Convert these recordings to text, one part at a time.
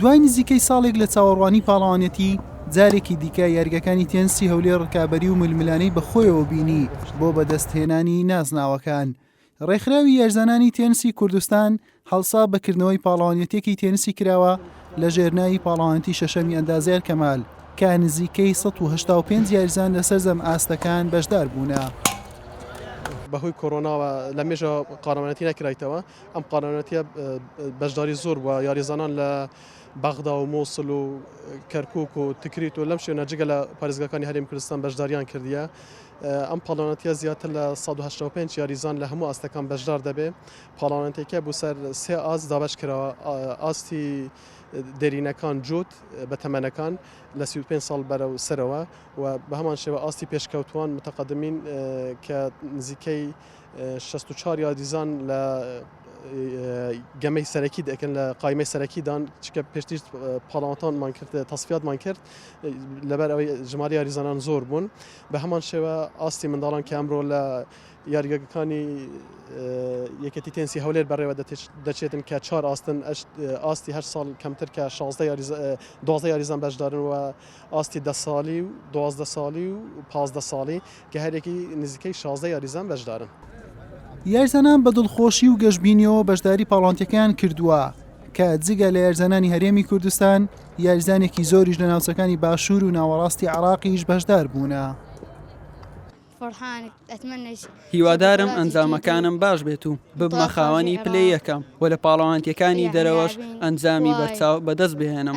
دوای نزیکەی ساڵێک لە چاوەڕوانی پاڵەوانێتی جارێکی دیکە یاریگەکانی تێنسی هەولێر ڕکابەری و ململانەی بەخۆیەوە بینی بۆ بەدەستهێنانی نازناوەکان. ڕێکخراوی یارزانانی تێنسی کوردستان هەڵسا بەکردنەوەی پاڵەوانێتێکی تێنسی کراوە لە ژێرناوی پاڵەوانتی شەشەمی ئەندازیار کەمال کە نزیکەی 1950 یارزان لە سەرجەم ئاستەکان بەشدار بوونە. بەهۆی کۆرۆناوە لە مێژە قارەمانەتی نەکرایتەوە ئەم قەرەنەتیە بەشداری زۆر بوە یاریزانان لە بەغدا و مۆسل و کەرکک و تکریت و لەم شوێنە جگە لە پارێزگەکانی هەرێم کوردستان بەشداریان کردیە ئەم پاڵانەتە زیاتر لە 1995 یاریزان لە هەموو ئاستەکان بەشدار دەبێ پاڵانەتێکە بۆ سەر سێ ئاز دابش کراوە ئاستی دێرینەکان جووت بە تەمەنەکان لە 35 ساڵ بەرە و سەرەوە و بە هەمان شێوە ئاستی پێشکەوتوان متەقدمین کە نزیکەی شەست و چوار یاریزان لە گەمەی سەرەکی دەکەن لە قایمەی سەرەکیدان چکە پێشتیش پاڵاوانتانمان کرد تەسفاتمان کرد لەبەر ئەوەی ژمار یاریزانان زۆر بوون بە هەمان شێوە ئاستی منداڵان کە ئەمرۆ لە یاریگەکانی یەکەتی تێنسی هەولێر بەڕێوە دەچێتن کە چوار ئاستن ئاستی هەر ساڵ کەمتر کە 16 یاریزان بەشدارن و ئاستی ده ساڵی و دوازدە ساڵی و پازدە ساڵی کە هەریەکەی نزیکەی شازدە یاریزان بەشدارن. یاریزانان بە دڵخۆشی و گەشبینیەوە بەشداری پاڵەوانتیەکەیان کردووە، کە جگە لە یاریزانانی هەرێمی کوردستان، یاریزانێکی زۆریش لە ناوچەکانی باشوور و ناوەڕاستی عێراقیش بەشدار بوونە. هیوادارم ئەنجامەکانم باش بێت و ببمە خاوەنی پلەی یەکەم و لە پاڵەوانتیەکانی دەرەوەش ئەنجامی بەرچاو بەدەست بهێنم.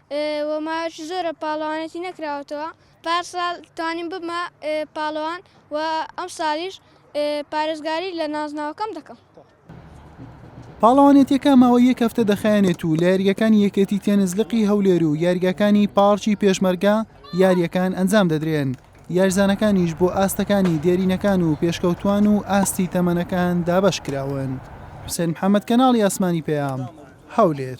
و ماوەیەکی زۆرە پاڵەوانێتی نەکراوەتەوە، پارساڵ توانیم ببمە پاڵەوان و ئەمساڵیش پارێزگاری لە نازناوەکەم دەکەم. پاڵەوانێتییەکە ماوەی یەک هەفتە دەخایەنێت و لە یاریگاکانی یەکێتی تێنس لقی هەولێر و یاریگاکانی پاڕکی پێشمەرگە یارییەکان ئەنجام دەدرێن، یاریزانەکانیش بۆ ئاستەکانی دێرینەکان و پێشکەوتووان و ئاستی تەمەنەکان دابەشکراون. حوسێن محەممەد، کەناڵی ئاسمانی پەیام، هەولێر.